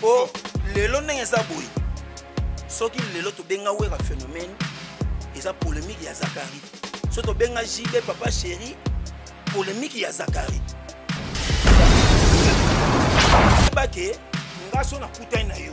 po oh, lelo ndenge eza boye soki lelo tobenga wera phénomène eza polémique ya zakari so tobenga jb papa chéri polémique ya zakari bake nga so nakutani na yo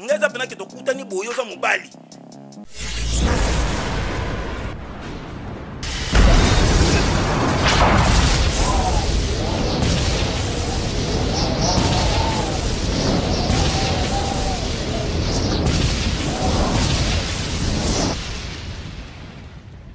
nga eza pena ke tokutani boye oza mobali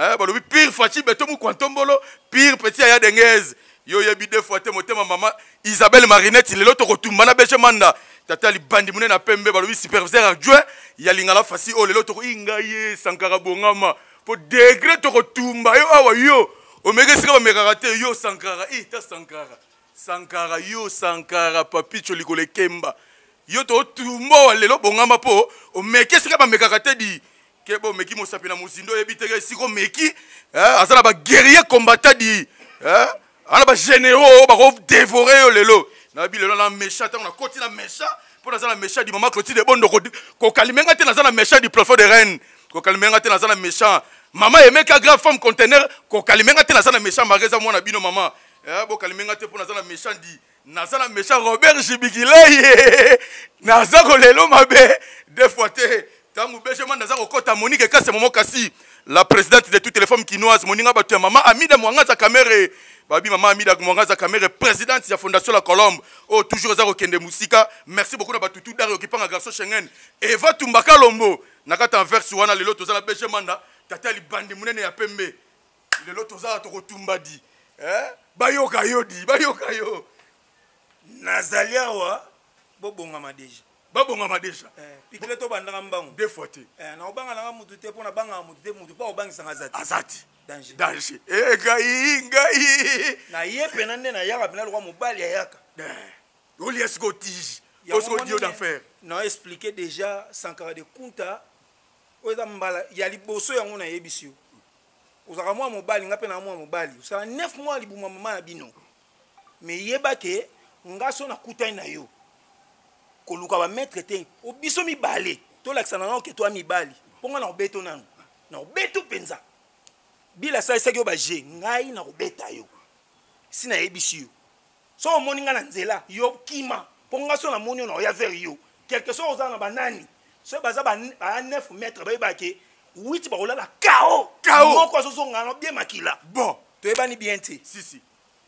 eh, balobi pire faci beto mukwantombolo pire petit aya dengeze yo oyebi de fois te motema mama isabelle marinette lelo tokotumba na bege manda tata libandi mune na pembe balobi superviseur adjoint ya lingala fasi oyo oh, lelo toko inga ye sankara bongama mpo degre tokotumba yo awa yo omeki esika bamekaka te yo sankara i eh, ta sankara sankara yo sankara papicho likolo ekemba yo tokotumba owa lelo bongama mpo omeki esika bamekaka te di keba omeki mosapi na mozindo oyebi teke esika omeki eh, aza na baguerrier combattant di eh, ana bagénéraux oyo bakodevore yo lelo nayebi lelo na méchant ntango nakoti na méchant mpo naza na méchant di mama clotide ebondo kokalime nga te naza na méchant di plafond de reine kokalime nga te naza na méchant mama emeka grave femme contener kokalime nga te naza na méchant mare eza mwana bino mama eh, bokalime nga te mpo naza na méchant di naza na méchant robert jibikilei naza kolelo mabe de fois te ntango bejema naza kokɔta monike ekase momo kasi la présidente de toutes les femmes kinoise moninga bato ya mama amida mwangaza kamere babi mama amida mwangaza kamere présidente ya fondation la colombe oyo oh, toujours eza kokende mosika merci beaucoup na bato tu dario kipanga garçon schengen eva tumbaka lombo na kati anverse wana lelo toza na bejemanda tata libandi monene ya pembe lelo tozala tokotumba di eh? bayoka yo di bayoka yo nazali awa bobongama deja babongama deja eh, pikile tobandaka mbangu de fois te eh, nakobanga nanga motu te mpo nabangaka motu te motu mpo akobangisaka aza te aza te danger danger eh, ngai ngai naye mpena nde nayaka mpena lokwa mobali ayaka olia siko tige osiko dio d'affaire na explike deja sankara de kunta oyo eza mbala ya liboso yango nayebisi yo ozalaka mwa mobali nga mpe na mwa mobali osala 9 mois libuma mama na bino me yeba ke nga so nakutani na yo koluka bamaitre te o biso mibale tolakisa na nao ke toya mibali mpo nga na obeto nano na obeto mpenza bila asalisaki yo baje ngai na kobeta yo si nayebisi yo so omoni nga na nzela yo kima mpo nga so namoni yo na oya vers yo quelque soit oza na banani so baza ba 9 mètre bayeba ke 8 bakolala kao kao moko azozonga na bie makila bon toyebani bien te si si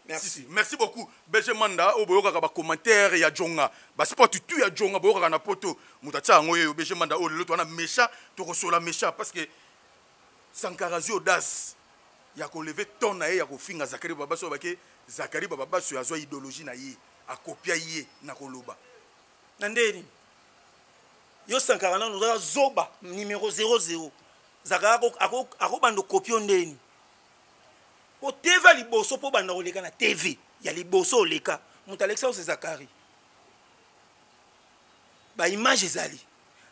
Merci. Si, si. merci beaucoup bg manda oyo boyokaka bacommentaire ya jonga basport tu ya jonga boyokaka na poto moto atia yango yeyo bg manda oyo lelo towana méchant tokosola méchant parce que Sankara azwi audace ya ko lever ton na ye ya kofinga Zacharie Babaso aloba ke Zacharie Babaso azwa ideologie na ye akopia ye na koloba na ndenge nini yo Sankara nanu ozala zoba numero 00 Zacharie akobanda okopio ndenge nini po TV ya liboso po obanda koleka na TV ya liboso oleka moto alekisa ose Zacharie ba image ezali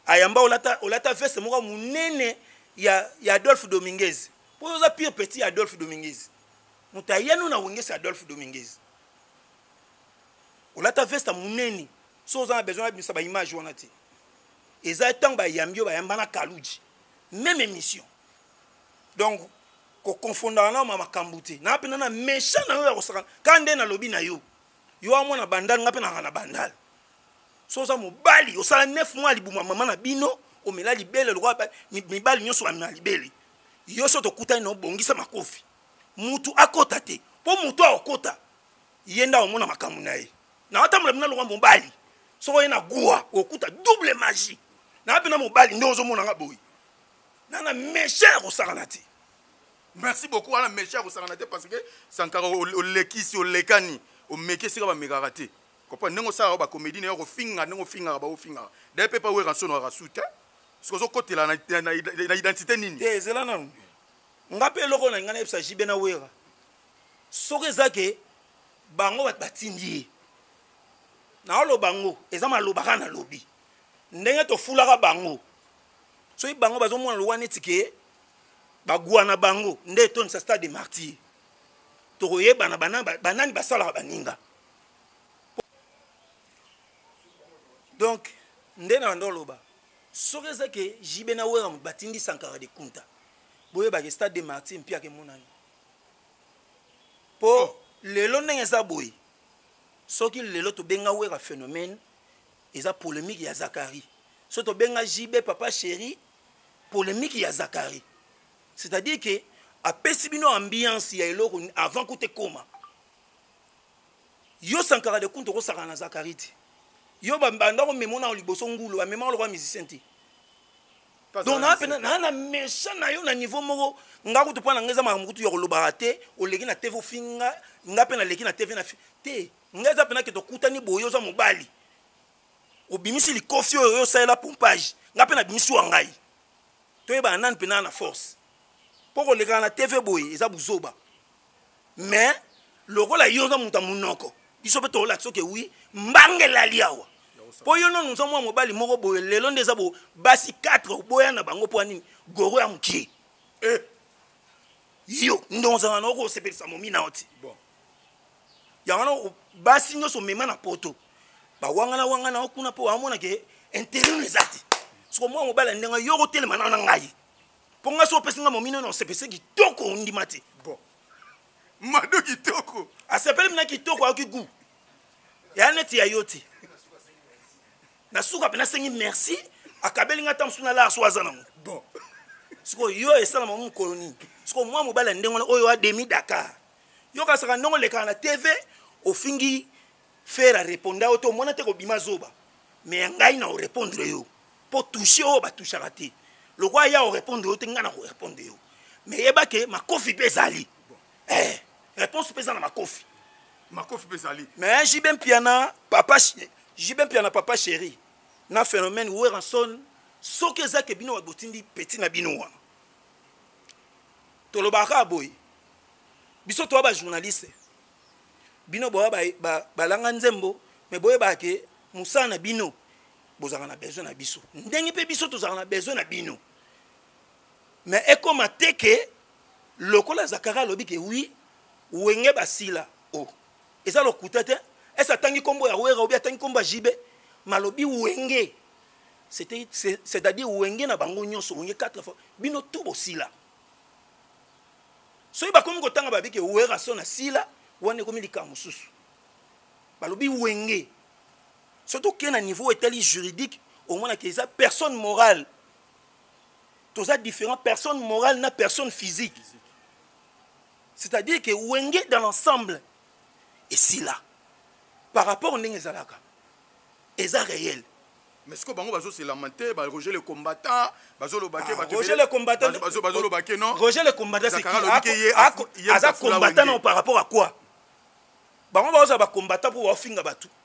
ayamba olata olata veste moko munene ya ya Adolphe Dominguez po oza pire petit ya Adolphe Dominguez moto ayano na wengesi Adolphe Dominguez olata veste munene so oza na besoin ya bimisa ba image wana te eza ntango bayambi yo bayamba na kaluji même émission donc kokonfondaka na ma makambo te naa mpenza na méchant na yo ya kosaka ka nde nalobi na yo yo amwana bandal nga mpe nanga na bandal so oza mobali osala 9 mois libuma mama na bino omela libele lokola mibali nyonso bamela libele yo so tokutani na obongisa makofi mutu akota te mpo mutu akokota ye nde akomona makambo na ye na otambola bino lokola mobali soko ye na gua okuta double magie na bino mobali nde ozomona nga boye nana méchant ya kosakana te merci beaucoup wana méchant ya kosakana te parce que sankara olekisi olekani omeki esika bamekaka te Comprendre ndenge osalaka ba comédie nayo kofinga ndenge ofingaka ba ofingaka. D'ailleurs pepa wera nsono arasu te. Soki ozokotela na, na, na, na identité nini? Te ezela nanu. Nga pe eloko na nga na yebisa JB na wera. Soki eza ke bango batindi ye. Na oloba ngo eza maloba kaka na lobi. Ndenge tofulaka bango. Soki bango bazomona lowa neti ke bagwa na bango nde etondisa stade de martyr. Tokoyebana banani basalaka baninga. donc nde na banda oloba soki eza ke jibe na wera moto batindi sankara de kunta boyebake stade de martin mpe ake monani mpo oh. lelo ndenge eza boye soki lelo tobenga wera phénomène eza polémique ya zakari so tobenga jibe papa chéri polémique ya zakari c'est-à-dire ke apesi bino ambiance ya eloko avant kuta ekoma yo sankara de kuntu okosakana na zakari te yo banda komema nao liboso ngulu amemaka lokola musicien te donc naa mpena naa na méchant na yo na niveau moko nga kutu mpo na nga eza makambo kutu ya kolobaka te oleki na tv ofinga nga mpe naleki na tv na te nga eza mpena ke tokutani boye oza mobali obimisi likofi oyo yo osalela pompage nga mpe nabimisi wa ngai toyebana nani mpenaa na force mpo kolekaka na tv boye eza buzoba mais lokola yo oza moto ya monoko biso mpe tolaki soki wi mbanga elali awa mpo yo nano oza mwa mobali moko boye lelo nde eza bo basi 4 oboya na bango mpo anini goro ya mokie eh. yo nde ozala na okosepelisa momina yo ti bon. yango wana basi nyonso omema na poto bawangana wangana yo kuna mpo wamonake interino eza te soko mwa mobali ya ndenge yo okotelema na na ngai mpo ngai so opesi ngai momino na osepese kitoko ondima te bon mado kitoko asepeli mina kitoko ayoki gu eya neti ya yo te na suka mpe nasengi merci akabeli ngai ata mosusu nalaa so aza nango bon sikoyo yo esalama mokolo nini sikoyo mwa mobali ya ndenge wana oyo ademi dakar yokasaka ndenge olekaka na tv ofingi fere areponda yo te omona te kobima zoba me ya ngai na orepondre yo mpo touche oyo batouchaka te lokola ya orépondre yo te ngai na korépondre yo mais yeba ke makofi mpe ezali eh, réponse mpe eza na makofi makofi mpe ezali mais jb mpiana papa jb mpiana papa chéri na phénomène weranson soki eza ke bino botindi peti na bino wana tolobaka boye biso toya bajournaliste bino boya balanga nzembo me boyebaka ke mosala na bino bozalaka na besoin na biso ndenge mpe biso tozalaka na besoin na bino mais ekoma te ke lokola zakara alobi ke wi wenge basila o oh. eza lokuta te ese atangi nkombo ya wera obi atangi nkombo ya jibe malobi wenge c'est-à-dire wenge na bango nyonso wenge 4 fois bino tu bosila soki bakomi kotanga babi ke wera so na sila wana ekomi likambo mosusu balobi wenge soki tokei na niveau etali juridique omonaka eza personne morale toza différent personne morale na personne physique c'est-à-dire que wenge dans l'ensemble esila par rapport ndenge ezalaka eza réel mais sikoyo bango bazoselama te baroger le combattant bazoloba te ah, roger le combattant bazoloba ke non roger le combattant c'est qui aza combattant non par rapport à quoi bango baozala bacombattant mpo baofinga bato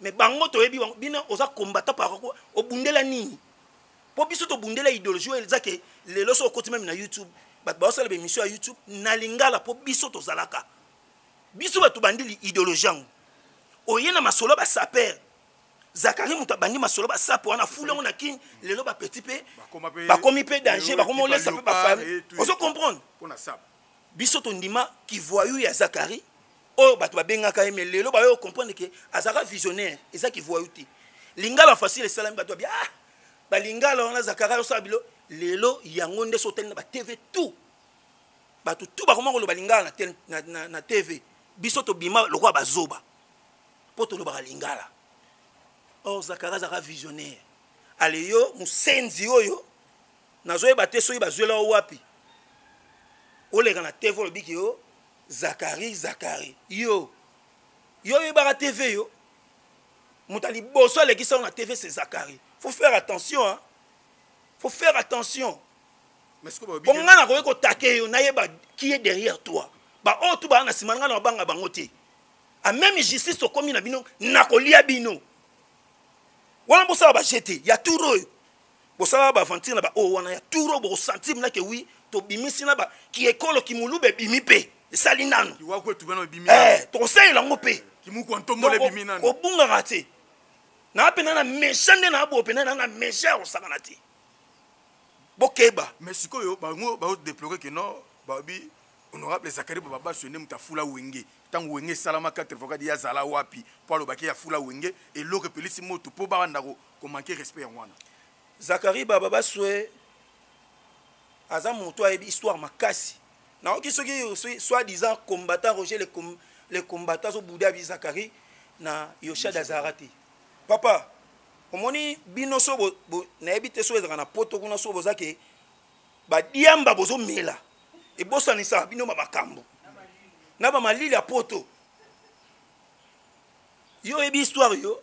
mais bango toyebi bango bino oza combattant par obundela nini mpo biso tobundela idéologie oyo eza ke lelo so okoti meme na youtube bato baosala baémission ya youtube na lingala mpo biso tozalaka biso bato bandi idéologie yango oye na masolo basapere zakari moto abandi masolo basapo wana fulu yango na kin lelo bapetit mpe bakomi mpe danger bakomi olesa mpe bafami ozo comprendre biso tondima kivoyou ya zakari oyo bato babengaka ye me lelo bayo comprendre ke azalaka visionnaire eza kivoyou te lingala facile esalami bato babi ah balingala wana zakari ayosala bilo lelo yango nde sotali na batv tout bato tout bakoma koloba lingala na, na, na, na tv biso tobima lokola bazoba mpo tolobaka lingala or zakari azalaka visionnaire ale yo mosenzi oyo nazoyeba te soki bazwela yo wapi oleka na tv olobi ke yo zakari zakari yo yo oyebaka tv yo moto ya liboso alekisa yo na tv se zakari faut faire attention hein? faut faire attention bongo ngai nakoki kotake yo nayeba qui est derrière toi baoyo oh, tu baa na nsima ngai na babanga bango te a même justice tokomi na bino nakolia bino wana bosala bajete ya tour oyo bosala ba aventure na ba oyo wana ya turo bokosentir na ke wi tobimisi na ba kiekolo kimuluba ebimi mpe esali nanu eh, tokosalela yango mpe kobungaka te naa mpena na mecha nde naa boyo mpena naa na mecha ya kosakana te bokeba mais sikoyo bango baodeplore ke non babi honorable zakari bababasio nde moto afula wenge ntango wenge esalama 84 ye azala wapi mpo alobaki afula wenge eloko epelisi moto mpo babanda ko manquer respect yango wana Zachary Baba Baswe aza moto ayebi histoire makasi nayoki soki soit disant combattant Roger le, com, le combattant azo boude abi Zachary na Yoshad azara te papa omoni bino so nayebi te so ezalaka na poto kuna so boza ke badiamba bozomela ebosanisaka bino ba makambo na bamalili ya poto yo oyebi histoire yo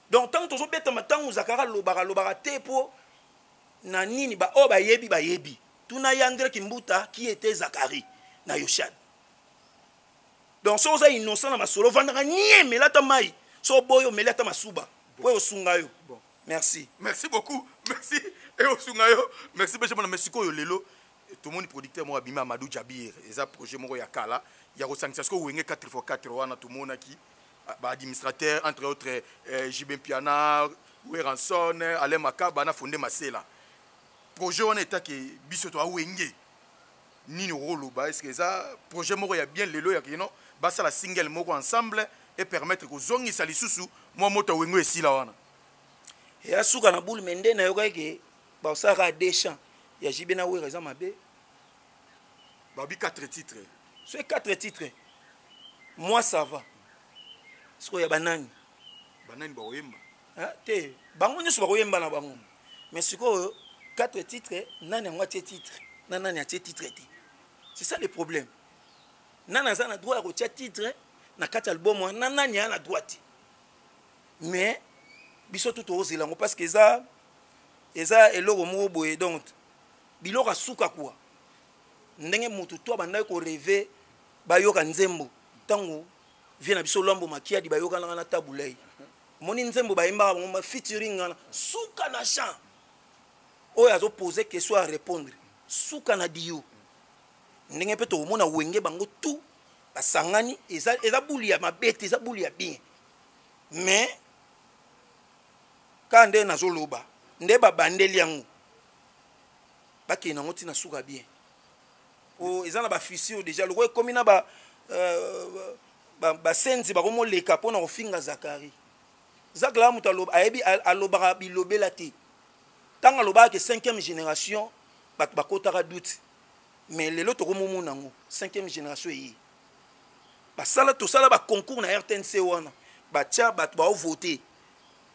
donc ntango tozobetama ntango zakara alobaka alobaka te mpo na nini baoyo oh, bayebi bayebi tuna ye andre kimbuta qui était zakari na yoshad donc soki oza innocent na masolo vandaka nie mela ata mai so oboyi omeli ata masuba mpo eyosunga yo merci merci beaucoup merci eyosunga yo merci bege mona mais sikoyo lelo tomoni producteur moko abimi amadou jabir eza projet moko ya kala ya kosangisa sikoyo wenge 4x4 wana tomonaki ba administrateur entre autres eh, JB Mpiana Weranson Alain Makaba na Fonde Masela projet wana etaki biso to awenge nini okoloba eske eza projet moko ya bien lelo ya kino basala single moko ensemble e permettre kozongisa lisusu mwa moto ya wengo esila wana ya suka na boule me nde nayokaki ke baosalaka deschamp ya jibe na wera eza mabe babi 4 titre so 4 titre moi ça va sikoyo ya banani banani bakoyemba te bango nyonso bakoyemba na bango mais sikoyo 4 titre nani yango atie titre na nani atie titre te c'est ça le problème nani aza na droit ya kotia titre na kati ya album wana na nani aa na droit te mais biso tu tozela yango parce que eza eza eloko moko boye donc biloko ya suka kuwa ndenge motu to abandaki koreve bayoka nzembo ntango vie na biso lwambo makiadi bayokanaka na tabulei omoni nzembo bayembaka bango bafitiring wana suka na champ oyo azopose question ya répondre suka na dio ndenge mpe tokomona wenge bango tout basangani eza, eza buli ya mabe te eza buli ya bien mais kaka nde nazoloba nde babandeli yango bakende yango ntina suka bien o eza na bafissure déjà lokola ekomi na ba euh, basenzi bakomoleka mpo na kofinga zakari zakari ya moto ayebi alobaka bilobela te ntango alobaka ke cinquième génération bato bakotaka doute mais lelo tokomomona yango cinquième génération eye basala tosala baconcours na rtnc wana batya bato baovote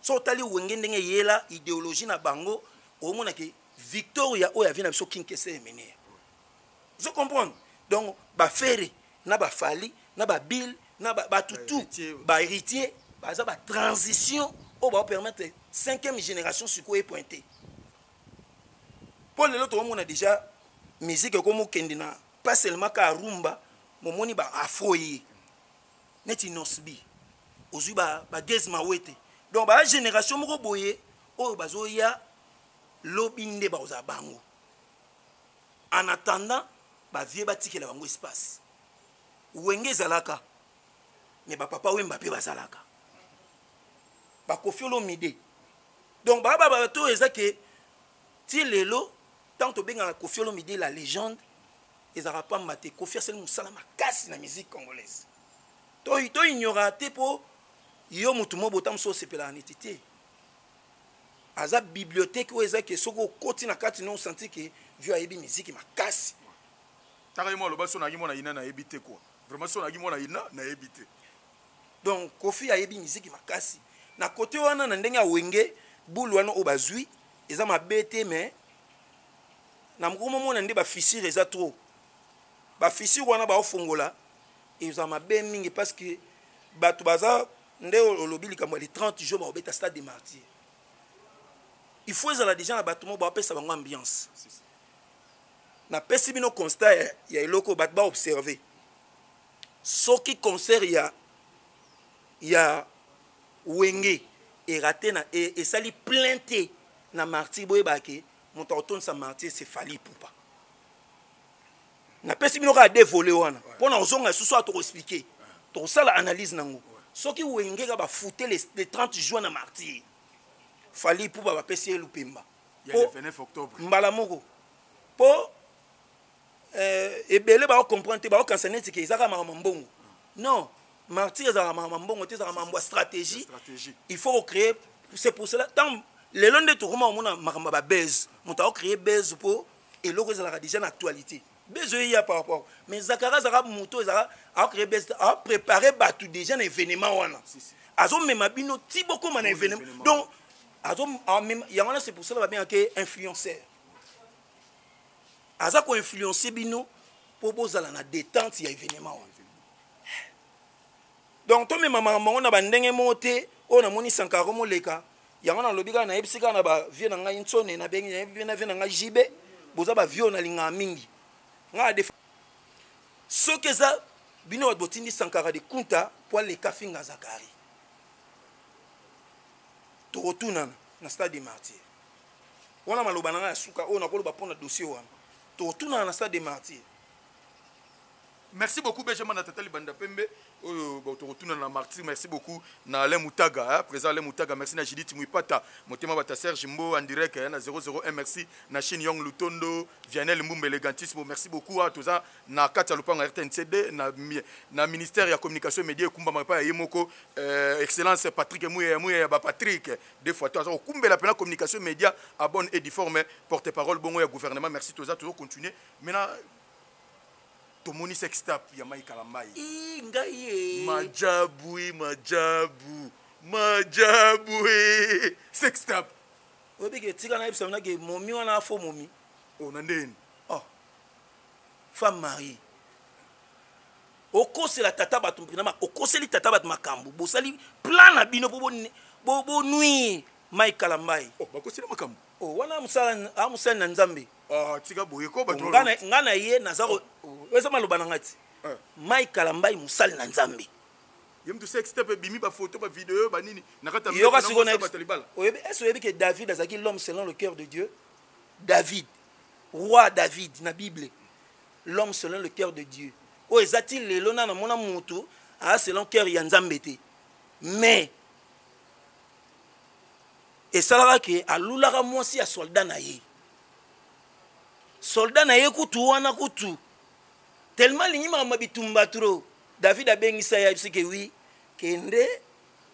so otali wenge ndenge eyela ideologie na bango omona ke victoria oyo avi na biso kinkese emeneya ozo comprendre donc bafere na bafali na babile na bato tout bahéritier baza batransition oyo baopermettre cinquième génération sikoyo epointe mpo lelo tokomona déjà musique ekomokende na pas seulement ka rumba momoni ba afro ye neti nosbi ozwi bagese ba mawete donc baya génération moko boye oyo bazoya lobi nde bakozala bango en attendant bavie batikela bango espace wenge ezalaka me bapapa wemba mpe bazalaka bakofi olomide donc baya babato oyo eza ke ti lelo ntango tobengaka kofi olomide la légende Ezalaka pamba te Koffi asali musala makasi na musique congolaise. To to ignora te po yo mutu mo botam so sepela neti te. Aza bibliothèque oyo eza ke soki okoti na kati no senti ke vio ayebi musique makasi. Taka yemo aloba so na yemo na ina na yebi te quoi. Vraiment so na yemo na ina na yebi te. Donc Koffi ayebi musique makasi. Na kote wana na ndenge ya wenge boule wana oyo bazui eza mabe te mais na mokoma omona nde bafissure eza trop bafissure wana baofongola eza mabe mingi parce que bato baza nde olobi likambo ya le 30 jour baobeta stade de martyr il faut ezala déjà na bato moko bapesa bango ambiance napesi bino constat ya, ya eloko bato baobserve soki concert ya ya wenge erate na e, esali plein te na martyr boyebake moto akotondisa martir se fali ipupa napesi bino kaka de vole wana mpo na kozonga lisusu awa tokoexplike tokosala analyse nango soki wenge ka bafute le 30 juin na martir fali ipupa bapesi ye lupemba mbala moko mpo eh, ebele bao comprendre te bao kanisa neti ke ezaka makambo mbongo non martyr ezalaka makambo mbongo te ezalaka makambo ya stratégie il faut kocréer c'est pour cela ntango lelo nde tokoma komona makambo ya babase moto akocréer base mpo eloko ezalaka déjà na actualité base oyo eya par rapport mais zakara azalaka moto ezalaka akocréer base apréparer bato déjà na événement wana azomema bino ti bokóma na événement donc yango wana c'est pour cela babengaka influenceur aza ko influencer bino mpo bozala na détente ya événement wana donc tomema makambo yango na bandenge moko te oyo namoni sankaro moleka yango nalobi kaka nayebisi kaka na bavie na ngai nsone nabengi nayebi mpe na vie na ngai jb boza bavie oyo nalingaka mingi ngai defa soki eza bino bato botindi sankara de kunta mpo aleka finga zakari tokotunana na stade de martyr wana maloba na ngai ya suka oyo nakoloba mpo na dossier wana totunana na stade de martyr merci beaucoup benjamin na tata libanda pembe oyo tokotuna na martyr merci beaucoup na alain mutaga hein, président alain mutaga merci na judith muipata motema bata serge mbo en direct hein, na 001 merci na chine yong lutondo vianel mbumba elegantisme merci beaucoup hein, toza na kati ya lopango ya rtncd na, na ministère ya communication et média ekumbama epai ya ye moko euh, excellence patrick muya ya muya ya bapatrick de fois to aza kokumbela pena communication media à bonne et difforme porte parole bongo ya gouvernement merci toza tozo continuer mena tomoni sex tap ya mai kalambai ngai majabu majabu majabu sex tap oyebike tika nayebisa mona ke momi wana afo momi ona oh, ndeni oh. femme marie okosela tata bato mpena okoseli tata bato makambo bosali plan na bino mpo bonuire mike kalambai oh, bakoseli makambo oh, wana amosali na nzambe ah, tika boye ko bato nga na ye naza oh, eza maloba na ngai ti eh. mike kalambai mosali na nzambe ye moto sexte mpe ebimi bafoto bavideo banini na kati yayoka sikoyo ese oyebi ke david azalaki l'homme selon le cœur de dieu david roi david na bible l'homme selon le cœur de Dieu oyo eza ti lelo na namona mutu aza selon cœur ya nzambe te mais esalaka ke alulaka mwasi ya soldat na ye soldat na ye kutu wana kutu tellement alingi makambo ya bitumba tro david abengisa ye ayebisi ke wi kende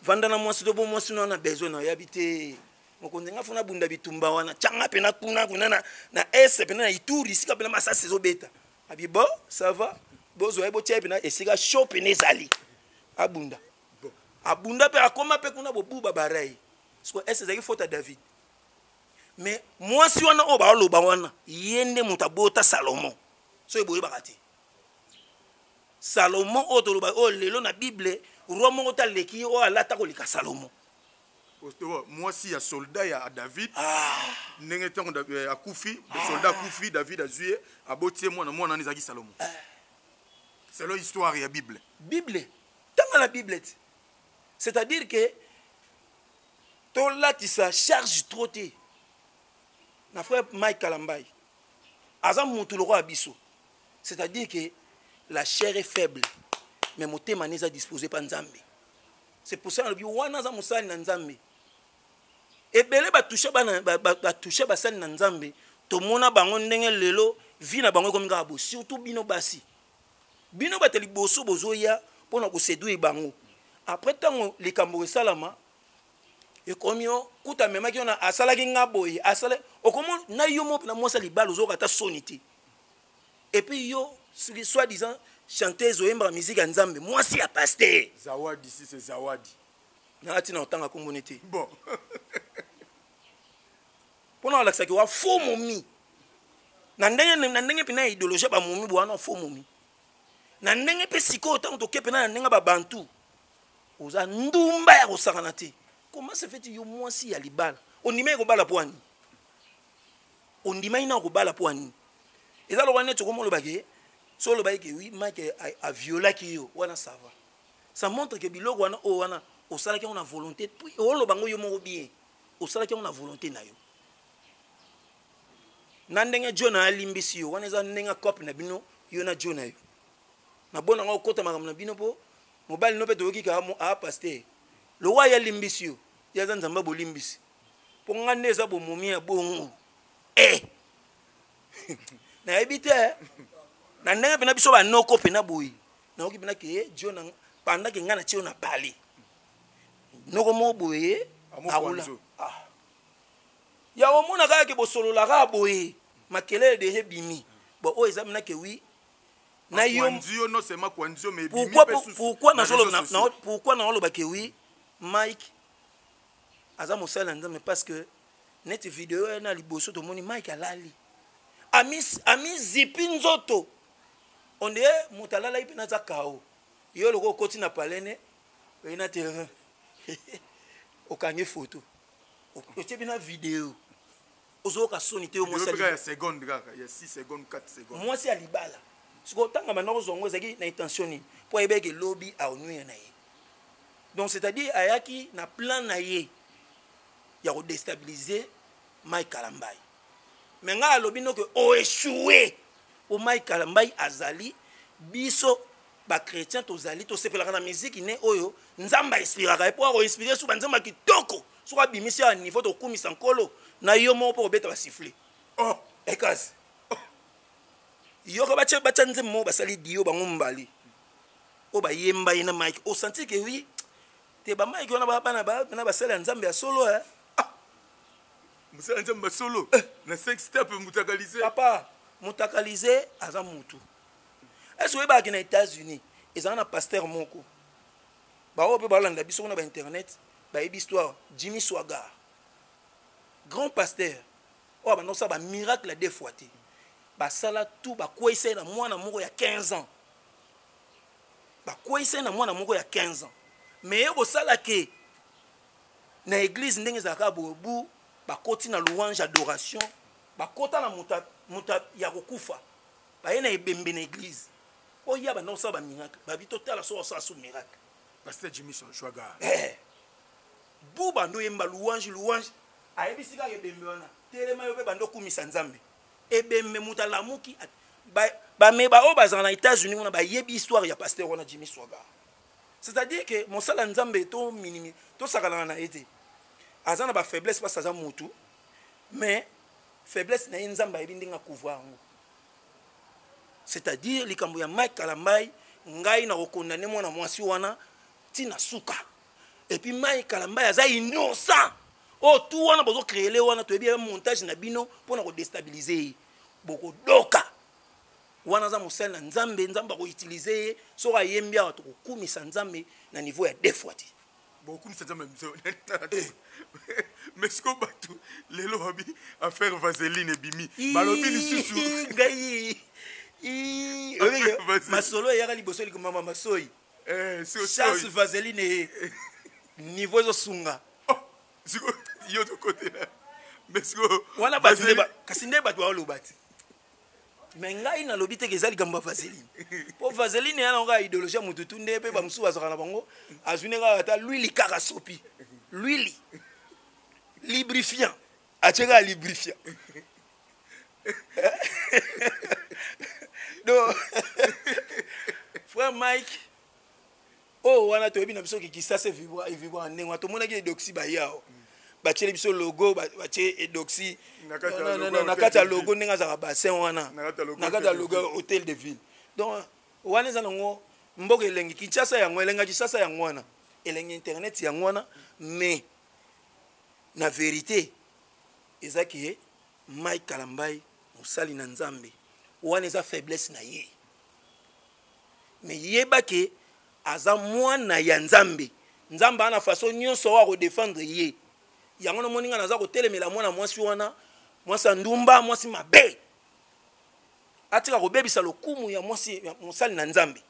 vanda na mwasi to bo mwasi no wana besoin na oyabi te mokonzi nga fo nabunda bitumba wana tyanga mpena kuna kuna na, na est mpena na ituri esika mpena masasi ezobeta abi bo ça va bozwa ye botya ye mpena esika sho mpena ezali abunda abunda mpe akoma mpe kuna bobuba barai siko est ezalaki fota david mais mwasi wana oyo baoloba wana ye nde moto abota salomo soki boyebaka te salomo oyo toloba oyo lelo na bible roi moko te aleki ye oyo alata koleka salomo mwasi ya solda ya david ah. ndenge ntango eh, akufi ah. solda akufi david azwi ye aboti ye mwana mwana wana ezalaki salomo eh. selon histoire ya bible bible tanga na bible ti c'est-à-dire que tolatisa charge trop te na frère mike kalambai aza motu lokola biso c'est-à-dire que la chair est faible mais motema ne eza disposé mpa nzambe c'est pour ça nalobi wana aza mosali na nzambe ebele batusha batusha basali na nzambe tomona bango ndenge lelo vi na bango ekomi kaka bo surtout bino basi bino bato liboso bozoya mpo na koseduire bango après ntango likambo esalama ekomi yo kuta amemaki yo na asalaki nga boye asala okomo na yo mo na mwasi ya libala ozoyoka ata soni te et puis yo soki soit disant chanteuse oyembaka musique ya nzambe mwasi ya paster zawadi si se zawadi nanga ntina otanga kombone te bon mpo na olakisaki wa fo momi na ndenge na ndenge mpena ya idéologie ya bamomi bowana fo momi na ndenge mpe sikoyo ntango toke mpena na ndenge babantu oza ndumba ya kosakana te comment se fait yo mwasi ya libala ondima ye kobala pwani ondimaki na kobala mpo ya nini eza lokola neti okomi olobake so olobaki ke wi mike aviolaki yo wana sava ça montre ke biloko wana oyo wana osalaki yango na volonté oloba yango yo moko bien osalaki yango na volonté na yo na ndenge jona alimbisi yo wana eza ndenge cope na bino yo na jona yo nabona yango okota makambo na bino mpo mobali no mpe toyoki kaka apaster lowa ye alimbisi yo ye aza nzambe bolimbisi mpo nga nde eza bomomi ya bongo e nayebi te eh. na ndenge mpena biso banoko mpena boye nayoki mpena ke eh, jo panda ke ngai na tio na pale noko moko boye akola ah. ya omona kaka ke bosolola kaka boye makelele deja ebimi bon oyo eza mpena ke wi na yo pourquoi naoloba ke wi mike aza mosali na nzambe parce que neti video ya na liboso tomoni mike alali amizipi ami nzoto onde moto alalaki mpe naza kao yo loko okoti na palene oye na terrain okangi foto otie bina video ozoyoka soni te yo mwasi ya seconde kaka ya 6 seconde 4 seconde mwasi ya libala sikoyo ntanga banda kozwa yango ezalaki na intention nini mpo ayebaki lobi aonwire na ye donc c'est à dire ayaki na plan na ye ya kodestabilise mike kalambai me ngai alobi noke oechoue mpo mike kalambai azali biso bachrétien tozali tosepelaka na miziki ne oyo nzambe ainspiraka ye mpo akoinspire so banzemba kitoko soki abimisi ya niveau tokumisa nkolo na yo moko mpo kobeta basifle oh, ekasi oh. yoka batya batya nzembo moko basali dio bango mbali oyo bayemba ye na mike osanti ke wi te bamike wana bana na basali ya nzambe ya solo eh? ah. mosala nzambe basolo eh. na sex step mutakalise papa mutakalise aza mutu ese oyebaki na états-unis ezala na paster moko baoyo mpe balanda biso kuna ba internet bayebi histoire jimmy swagar grand pasteur oyo abanda kosala bamiracle de fois te basala tout bakweisa ye na mwana moko ya 15 ans bakweisa ye na mwana moko ya 15 ans mais ye kosala ke na eglize ndenge ezalaka bobu bakoti na louange adoration bakota na moto ya kokufa baye na ebembe na eglise oya banda kosala bamiracle babi totala so osala so miracle pasteur jimmy sonshwaga eh. buba ndo oyemba louange louange ayebisi kaka ebembe wana telema yo mpe banda okumisa nzambe ebembe moto alamuki bame baoyo bazala na états-unis kuna bayebi histoire ya pasteur wana jimmy swaga c'est-à-dire que mosala nzambe to minimi tosakanaka na ye te aza na bafaiblesse mpasi aza motu mais faiblesse na ye nzambe ayebi ndenge akouvra yango c'est-à-dire likambo ya mike kalambai ngai na kokondane mwana mwasi wana ntina suka epuis mike kalambai aza innocent oyo oh, tu wana bozokreele wana toyebi ya montage na bino mpo na kodestabilize ye bokodoka wana aza mosali na nzambe nzambe akoutilize ye soki ayembi awa tokokumisa nzambe na niveau ya defwa te bokumisa nzambe ya biso eh. mais sikoyo bato lelo babi affaire vaseline ebimi balobi lisusu ngai masolo eyaka liboso likomama masoi eh, charles vaseline eh. niveau ezosunga oh, yo tokotela mais sikoyo kasi nde bato baoloba te me ngai nalobi te ke eza likambo ya vaseline mpo vaseline eya nango kaka idéologie ya motu tu nde mpe bamosusu bazwaka na bango azwi nde kaka ata lwili kaka sopi lwili librifiant atye kaka librifiant donc frère mike oyo wana toyebi na biso ki kisasa evibra evibra ndenge wana tomonaki edoxi baye awa batieli biso logo batie edoxi na kati ya logo ndenge azalaka bassin wana na kati ya logo hôtel de ville donc wana eza nango mboka elengi kinshasa yango elenga kinshasa yango wana elengi internet yango wana mais na verité eza ke mike kalambai mosali na nzambe wana eza faiblesse na ye mais yeba ke aza mwana ya nzambe nzambe ana façon nyonso oyo akodefendre ye yango namoni ngai naza kotelemela mwana mwasi wana mwasi ya ndumba mwasi mabe atika kobebisa lokumu ya mwasi mosali na nzambe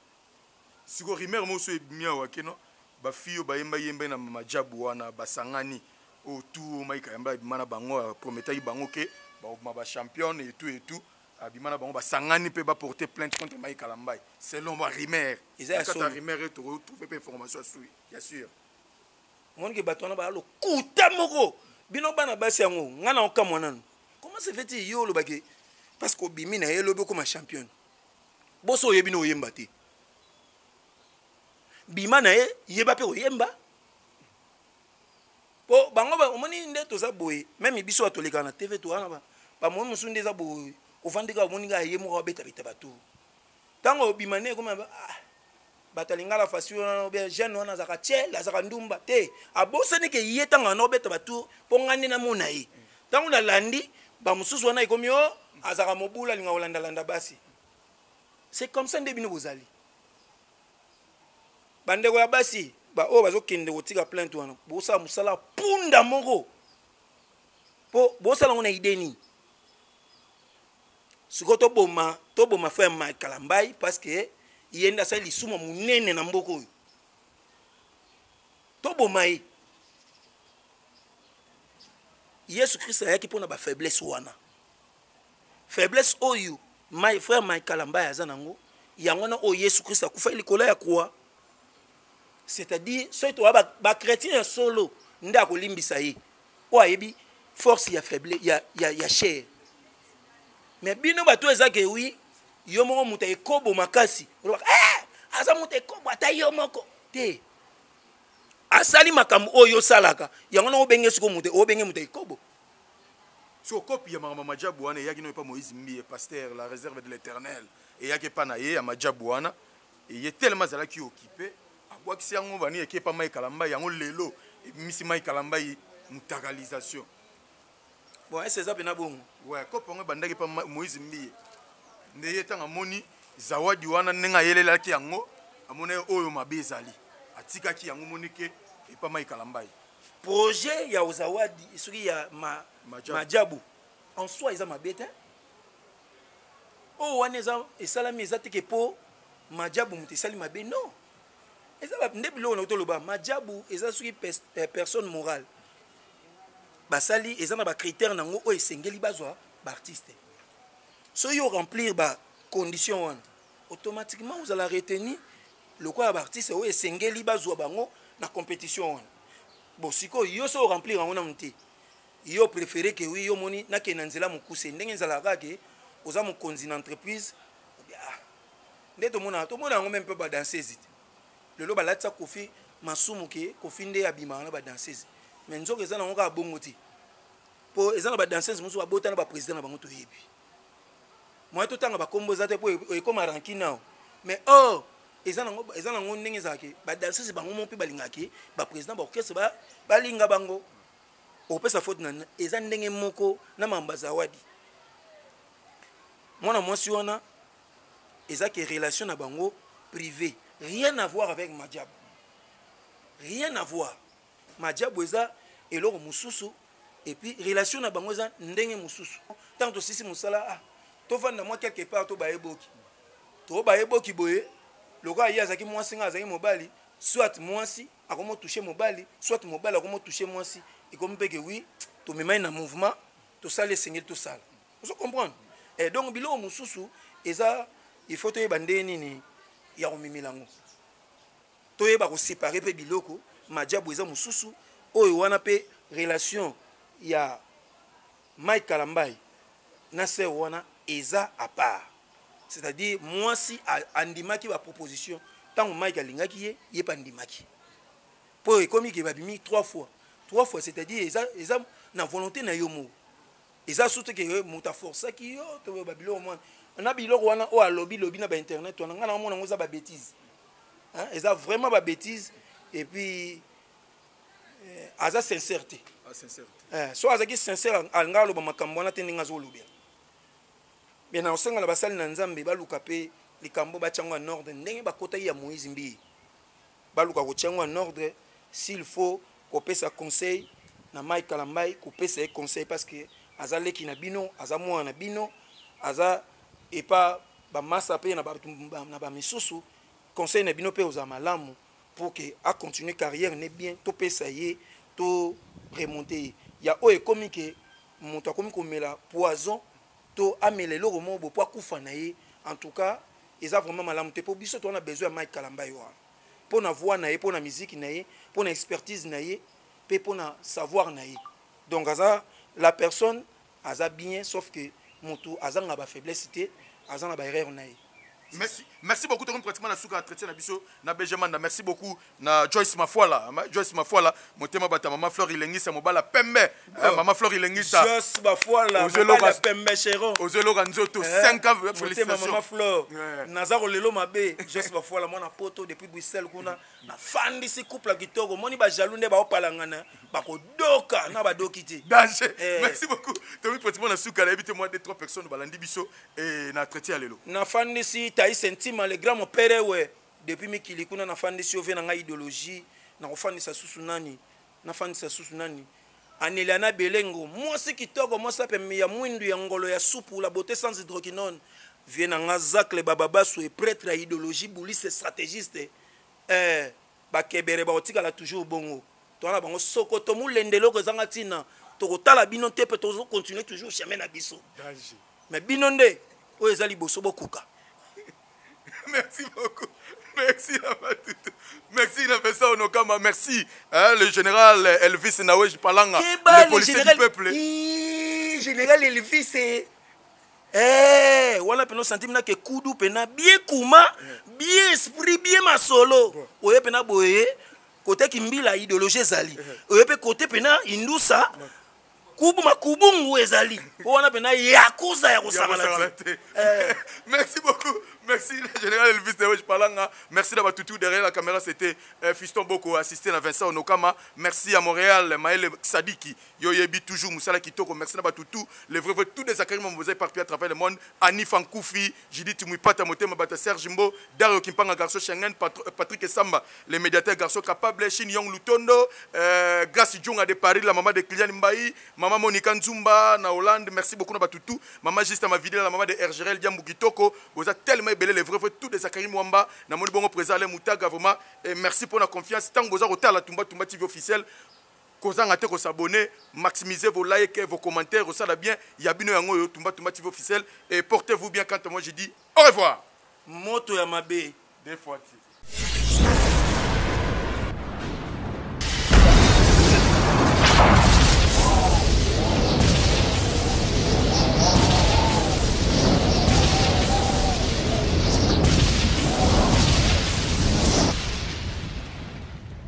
siko rimer moso ebimi awa keno bafi oyo bayemba yemba na majabu wana basangani oyo tu maika yamba ebima na bango prometaki bango ke bakobima bachampionne etu etu abima na bango basangani mpe baporte plainte contre mai kalambai selon ba rumeur eza ya solo rumeur eto ko trouver mpe information asui ya sûr moni ke bato wana baya lokuta moko bino bana basi yango ngai na okamwa nanu comment se fait yo olobaki parce que obimi na ye lobi okoma championne boso oyebi na oyemba te bima na ye yeba mpe oyemba po bango ba omoni nde toza boye meme biso ba toleka na tv to wana ba ba moyi musu nde za boye ovandi ka omoni ka ye moko abeta beta batu tango obima ne ekoma ah bato ya lingala fasi wana obe jeune wana azaka tiel azaka ndumba te abosani ke ye ntango wana obeta batour mpo ngai nde namona ye ntango nalandi bamosusu wana ekomi o oh, azaka mobula alinga kolandalanda basi c'est comme ça nde bino bozali Bandeko ya basi baoyo bazokende kotika plainte wana bosala mosala punda moko mpo bosala yango na ide nini sikoyo toboma toboma frère mike kalambai parce que ye nde asali lisumu monene na mboka oyo toboma ye yesu kristo ayaki mpo na bafaiblesse wana faiblesse oyo my frère mike kalambaya aza nango yango wana oyo yesu kristo akufaki likolo ya kwa c'est-à-dire soki towa bachrétien ya solo nde akolimbisa ye oyo ayebi force ya faible ya, ya, ya chair mais bino bato eza ke wi yo moko moto ya ekobo makasi olobaka eh, aza moto ekobo ata yo moko te asali makambo oyo osalaka yango na obenge siko moto obenge moto ya ekobo siko kopi ya makambo ya majabu wana eyaki noyo epa moïse mbiye pasteur la réserve de l'éternel eyaki epa na ye ya majabu wana eye telema azalaki okipe abwakisi yango bani eki epa mai kalambai yango lelo ebimisi mai kalambai mutakalisation bon ese eza mpena bongo we kopi yango ebandaki epa moïse mbiye nde ye ntango amoni zawadi wana ndenge ayelelaki yango amonaki oyo mabe ezali atikaki yango monike epa mai kalambai projet ya ozawadi soki ya ma, majabu en soi eza mabe te oyo wana eza esalami eza teke mpo majabu moto esali mabe non eza nde biloko na toloba majabu eza soki eh, personne morale basali eza na bacritère nango oyo esengeli bazwa baartiste soki yo remplir bacondition wana automatiquement ozala retenu lokola baartiste oyo esengeli bazwa bango na compétition wana bon sikoyo yo so oremplir yango nanu te yo préféré ke wi yo omoni nakende na nzela mokuse ndenge ezalaka ke oza mokonzi na entreprise ah, nde tomonaka tomona yango meme mpe badansese te lelo balatisa kofi masumu ke kofi nde abimaka na badansese me nzoka eza nango kaka bongo te mpo eza na badansese mosusu babota na baprésident na bango toyebi moye totanga bakombo eza te mpo ekoma ranki nao mais or oh, eza nango ndenge ezalaki badansese bango mo mpe balingaki baprésident baorchestre balinga bango okopesa faute na eza ndenge moko na mamba zawadi mwana mwasi wana eza ke relation na bango privé rien à voir avec madiab rien à voir majabu eza eloko mosusu epuis relation na bango eza ndenge mosusu ntango tosisi mosala ah, tofanda mwa quelque part to bayeboki to bayeboki boye lokola ye azalaki mwasi ngai azalaki mobali soit mwasi akomi otouche mobali soit mobali akomi otouche mwasi ekomi mpe ke wi tomemai na mouvement tosali esengeli tosala ozo comprendre e eh, donc biloko mosusu eza il faut toyeba ndenge nini ya komemela yango toyeba ko séparer pe biloko majabu eza mususu oyo wana pe relation ya Mike Kalambay na sœur wana eza à part c'est-à-dire mwasi andimaki ba proposition ntango Mike alingaki ye ye pe andimaki mpo ekomi ke babimi trois fois trois fois c'est-à-dire eza, eza na volonté na yo moko eza surtout ke eh, moto aforcaki yo to ba biloko mwana na biloko wana oyo alobi lobi na ba internet wana ngai na omona yango eza ba bêtise eza vraiment ba bêtise et puis eh, aza sincère te ah, eh, so azalaki sincère alinga aloba makambo wana te ndenge azolobela me na osenga na basali na nzambe baluka mpe likambo batyango ya norde ndenge bakotaki ya moïse mbiye baluka kotia yango en ordre s'il faut kopesa conseil na Mike Kalambay kopesa ye conseil parce que aza leki na bino aza mwana na bino aza epa bamasa mpe na bato na bamisusu conseil na bino mpe ozala malamu pour que acontinue carrière ne bien topesa ye to remonte ye ya oyo ekomi ke moto akomi komela poison to amela eloko moko bo po akufa na ye en tout cas eza vraiment malamu te po biso toza na besoin ya Mike Kalambay wana po na voix na ye po na musique na ye po na expertise na ye pe po na savoir na ye donc aza la personne aza bien sauf que mutu azanga ba faiblesse te aza na ba erreur na ye Merci, merci beaucoup. Tokomi pratiquement na suka entretien na biso na Benjamin. Merci beaucoup na Joyce Mafuala. Joyce Mafuala, motema bata maman Fleur Ilengisa mobala pembe. Eh, oh. Maman Fleur Ilengisa. Joyce Mafuala, mobala pembe chéro. Ozelo ganzoto 5 eh, ans félicitations. Maman Fleur. Eh. Naza ko lelo mabe. Joyce Mafuala mwana poto depuis Bruxelles kuna. Na fandi si couple kitoko. Moni ba jaloux nde ba opalangana. Ba ko doka na ba doki te. Danger. Merci beaucoup. Tokomi pratiquement na suka la ebite moi des trois personnes balandi biso. eh, na traité ya lelo nafandisi taise ntima le grand mopere we depuis mikili kuna nafandisi yo ve na ngai idéologie nakofandisa susu nani nafandisa susu nani aneliana belengo mwasi kitoko mwasi apembe ya mwindu ya ngolo ya supu la beauté sans hydroquinone vie na nga zacle bababasu e pretre ya idéologie bouliste stratégiste eh, Bakebere bakotikala toujours bongo. Toza na bango sokoto mulende eloko ezanga tina. Tokotala bino te pe tozo continuer toujours chemin na biso. Mais bino nde oyo eza liboso bokuka. Merci beaucoup. Merci Abatutu. Merci na Vincent Onokama. Merci hein, le général Elvis Nawej Palanga, Keba, le policier du peuple. Iii, général Elvis. Eh, wana pena osantimi na kekudu pena bie kuma bie esprit bie masolo oye pena boye kote kimbila ideologie ezali oye mpe kote pena indusa kubu makubungu ezali mpo wana pena yakuza ya kosangana te eh. merci beaucoup merci le général elvis dewesh palanga merci na batutu derrière la caméra c'était euh, fiston boko assisté na vincent onokama merci à montréal maele sadiki Yo yebi toujours musala kitoko merci na batu tout les vrais vrais tout des akari mon boza éparpillé à travers le monde Annie Fankoufi Judith Muipata motema bata Serge Mbo Dario Kimpanga garçon Schengen euh, Patrick Samba les médiateurs garçon capable Shin Yong Lutondo euh, Grace Djonga de Paris la maman de Kylian Mbaye maman Monica Nzumba na Hollande merci beaucoup na batu tout maman juste ma vidéo la maman de Ergerel Diambu Kitoko boza tellement belé les vrais vrais tout des akari mwamba na moni bongo présent les mutaga vraiment et merci pour la confiance tango boza kotala tumba tumba TV officiel Kozanga te ko s'abonner, maximiser vos likes, vos commentaires, osala bien, ya bino yango yo, Tumba Tumba TV officiel, et portez-vous bien quand moi je dis au revoir. Moto ya mabe. Des fois tu.